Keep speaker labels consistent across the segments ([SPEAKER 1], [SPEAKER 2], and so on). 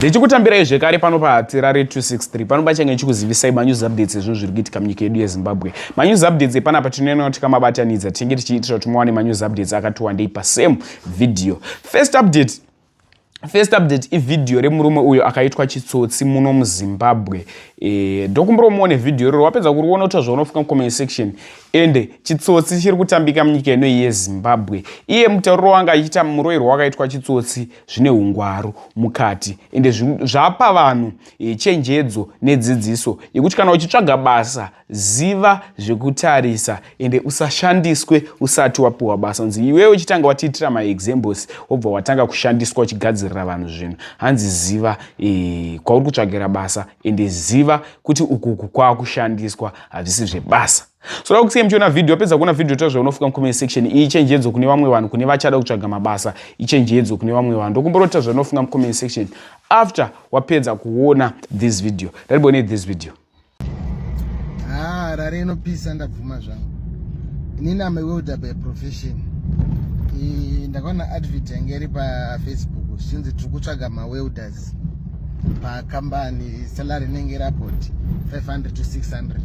[SPEAKER 1] Ndichikutambirai zvekare pano paTerrare 263 pano pachange chikuzivisai manews updates ezvinhu zviri kuitika munyika yedu yeZimbabwe. Manews updates epanapa tinoenda kuti kamabatanidza tinenge tichiitira kuti muwane manews updates akati wandei pasame video. First update First update ivhidhiyo remurume uyo akaitwa chitsotsi muno muzimbabwe eh, ndokumbira e, umuone vhidhiyo iroro wapedza kuriona uta zvaunofunga mucomment section ende chitsotsi chiri kutambika munyika inoyi yezimbabwe iye mutauriro wanga achiita muroirwa wakaitwa chitsotsi zvine ungwaru mukati ende zvapa vanhu e, chenjedzo nedzidziso yekuti kana uchitsvaga basa ziva zvekutarisa ende usashandiswe usati wapiwa basa nzi iwewe uchitanga watiitira maexamples wobva watanga kushandiswa uchigadzirira vanhu zvinhu hanzi ziva e, kwauri kutsvagira basa ende ziva kuti ukuku kwaakushandiswa hazvisi zvebasa soda kusiya muchiona vhidhiyo wapedza kuona vhidhiyo tazve unofuka mucomment section iyi chenjedzo kune vamwe vanhu kune vachada kutsvaga mabasa ichenjedzo kune vamwe vanhu ndokumbora kutazve unofunga mucomment section after wapedza kuona this video ndariboone this video ah,
[SPEAKER 2] rari inopisa ndabvuma zvangu inini ame welder by profession ndakaona advert yange iri pafacebook zvichinzi tiri kutsvaga mawelders pakambani salary inenge irapoti 500 to 600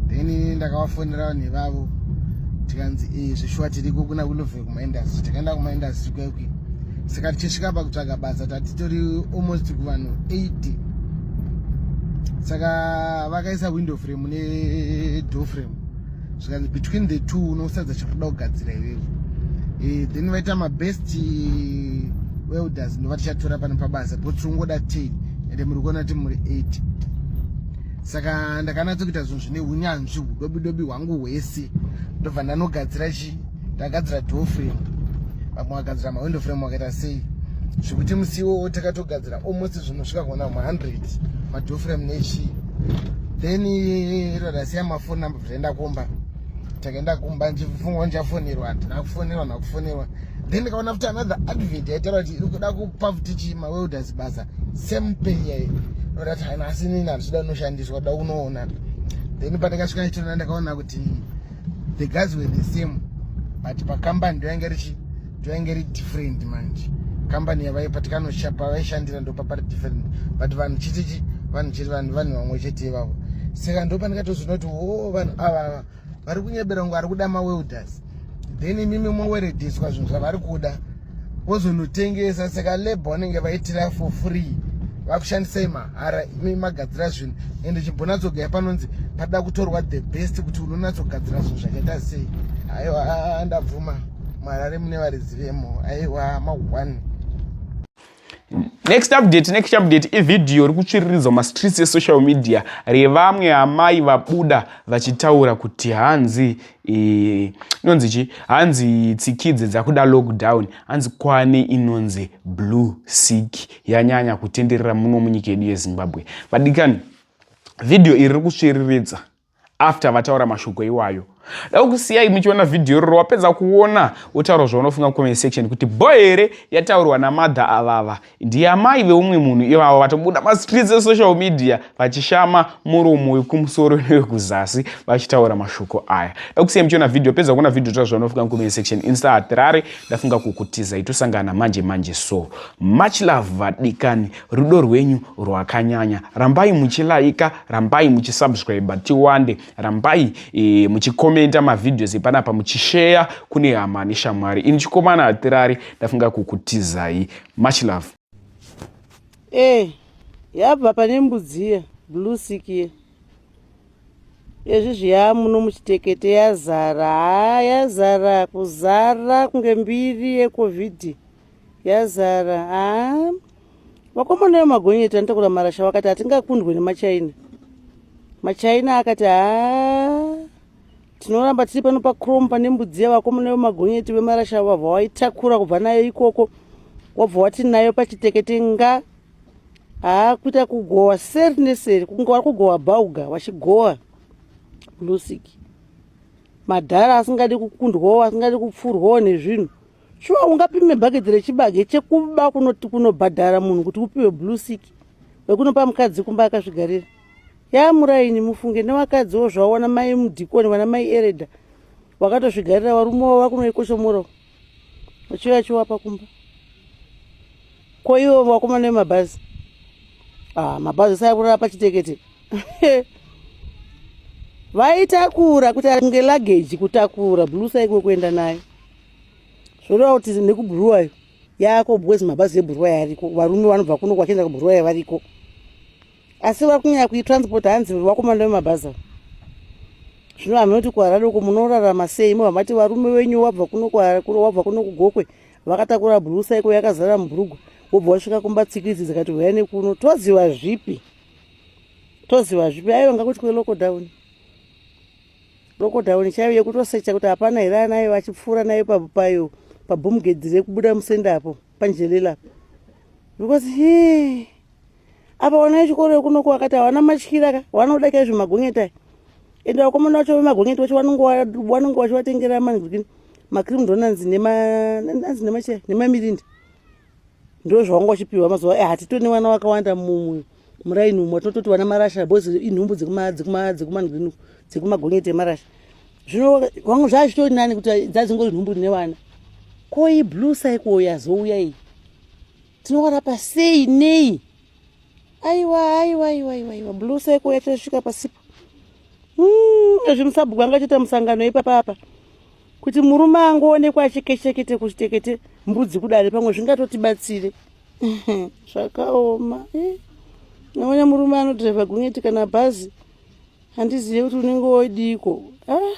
[SPEAKER 2] then ndakavafonera vanhu ivavo tikanzi eh, zvishuwa tiriko kuna kulove kumaindustry takaenda kumaindustry kwekwi saka tichisvika pakutsvaga basa tatitori almost kuvanhu 80 saka vakaisa window frame nedor frame zvikanzi between the two unosadza chakuda kugadzira iwewe eh, then vaita mabest welders ndova tichatora pano pabasa but ungoda 10 ende muri kuona kuti muri 8 saka ndakanatsokuita zvinhu zvine unyanzvi udobidobi hwangu hwese ndobva ndanogadzira chii Ndagadzira door frame. Vamwe vagadzira ma window frame wakaita sei? Zvekuti musi iwowo takatogadzira almost zvinhu svika kuona 100 ma door frame nechi. Then iro rasiya ma phone number zvaenda kumba. Takaenda kumba ndichifunga ndichafonerwa, ndina kufonerwa na kufonerwa. Then ndikaona futi another advert yaitaura kuti iri kuda kupa futi chi ma welders basa same pay yayo. Ndati haina asi nini handisida unoshandiswa, da unoona. then pandakasvika chitona ndakaona kuti the guys were the same but pakambani ndoyainge richi ndoyainge ri different manje kambani yavai patikanoshaya pavaishandira ndo papari different but vanhu chitichi vanhu chiri vanhu vanhu vamwe chete ivavo saka ndo pandikatozoona kuti o vanhu avava vari kunyebera kunge ari kuda mawelders then imimi mowerediswa zvinhu zvavari kuda vozonotengesa saka labor vanenge vaitira for free vakushandisai mahara imi magadzira zvinhu ende chimbonatsogaya panonzi pada kutorwa the best kuti unonatsogadzira zvinhu zvakaita sei aiwa ndabvuma marare mune varidzi vemo aiwa ma one
[SPEAKER 1] next update next update ivhidhiyo iri kutsviriridzwa mastreets esocial media revamwe amai vabuda vachitaura kuti hanzi eh, inonzi chi hanzi tsikidze dzakuda lockdown hanzi kwane inonzi blue sick yanyanya kutenderera muno munyika yedu yezimbabwe vadikani vhidhiyo iri riri kutsviriridza after vataura mashoko iwayo da kusiyai muchiona vhidhiyo roro wapedza kuona wotaura zvaunofunga comment section kuti bo here yataurwa namadha avava ndiye amai veumwe munhu ivavo vatobuda mastreets esocial media vachishama muromo wekumusoro newekuzasi vachitaura mashoko aya da kusiyai muchiona vhidhiyo pedza kuona vhidhiyo taura zvaunofunga comment section insta hatirare ndafunga kukutizai tosangana manje manje so much love vadikani rudo rwenyu rwakanyanya rambai muchilaika rambai muchisubscriber tiwande rambai e, muchikomenta mavideos epanapa muchisheya kune hama neshamwari ini chikomana hatirari ndafunga kukutizai much love e
[SPEAKER 3] yabva pane mbudziya blue sikie ezvi zviya muno muchitekete yazara ha yazara kuzara kunge mbiri yecovid yazara haa vakomana yo magonyeti vanotakura marasha vakati hatingakundwe nemachaina machaina akati haa tinoramba tiri pano pacrom pane mbudziya vakomana yo magonyeti vemarasha avo vabva waitakura kubva nayo ikoko wabva wati nayo pachitekete nga haa kuita kugowa seri neseri kunge wari kugowa bauga vachigowa lusiki madhara asingadi kukundwawo asingadi kupfurwawo nezvinhu shuwa ungapime bhaketi rechibage chekuba kunoti kunobhadhara munhu kuti upiwe blue sick wekunopa mukadzi kumba akazvigarira yaa muraini mufunge nevakadziwo zvaona mai mudhikoni vana mai ereda wakatozvigarira varume wavo vakunoikoshomorao uchiuya chiwapa kumba ko ivo vakomana vemabhazi ah, mabhazi sayakurara pachitekete vaitakura kuti ngelagage kutakura blusa ikwe kuenda nayo zvoreva kuti nekubhuruwayo yaako because mabhazi ebhuruwayo ariko varume vanobva kuno kwachienda kubhuruwayo variko asi vari kunyaya kuitransport hanzi vakomana vemabhazi avo zvino hameno kuti kuhara doko munorarama sei mo hamati varume venyu wabva kuno wabva kuno kugokwe vakatakura bhurusa iko yakazara mubhurugwa wobva wasvika kumba tsikidzi dzikati huya nekuno toziva zvipi toziva zvipi aive ngakuti kwelokodown lockdown chaiyo yekutosecha kuti hapana here anayo vachipfuura nayo payo pabhomugedhi rekubuda musenda apo panjelela because he apa vana vechikoro vekunoku vakati havana matyira ka vanoda kai zvemagonyeta ende vakomana vacho vemagonyeta vacho vanonge vachivatengera manzwi macrim donanzi nemanzi nemachai nemamirindi ndozvawanga uchipiwa mazuva eh, hatitone vana vakawanda mumwe muraini umwe tinototi vana marasha bos inhumbu dzekumanzwinu dzekumagonyeti emarasha zvino vanga zvazvitori nani kuti dzadzingori nhumbu rine vana ko iyi blue cycle yazouya iyi tinowara pasei nei aiwa aiwa aiwa aiwa aiwa blue cycle yachasvika pasipo hmm, ezvimusabhuku anga chita musangano ipapapa kuti murume angoonekwa achekechekete kuchitekete mbudzi kudare pamwe zvingatotibatsire zvakaoma eh, naona murume anodhiraivha gonyeti kana bhazi handizive kuti unenge wodiiko ah.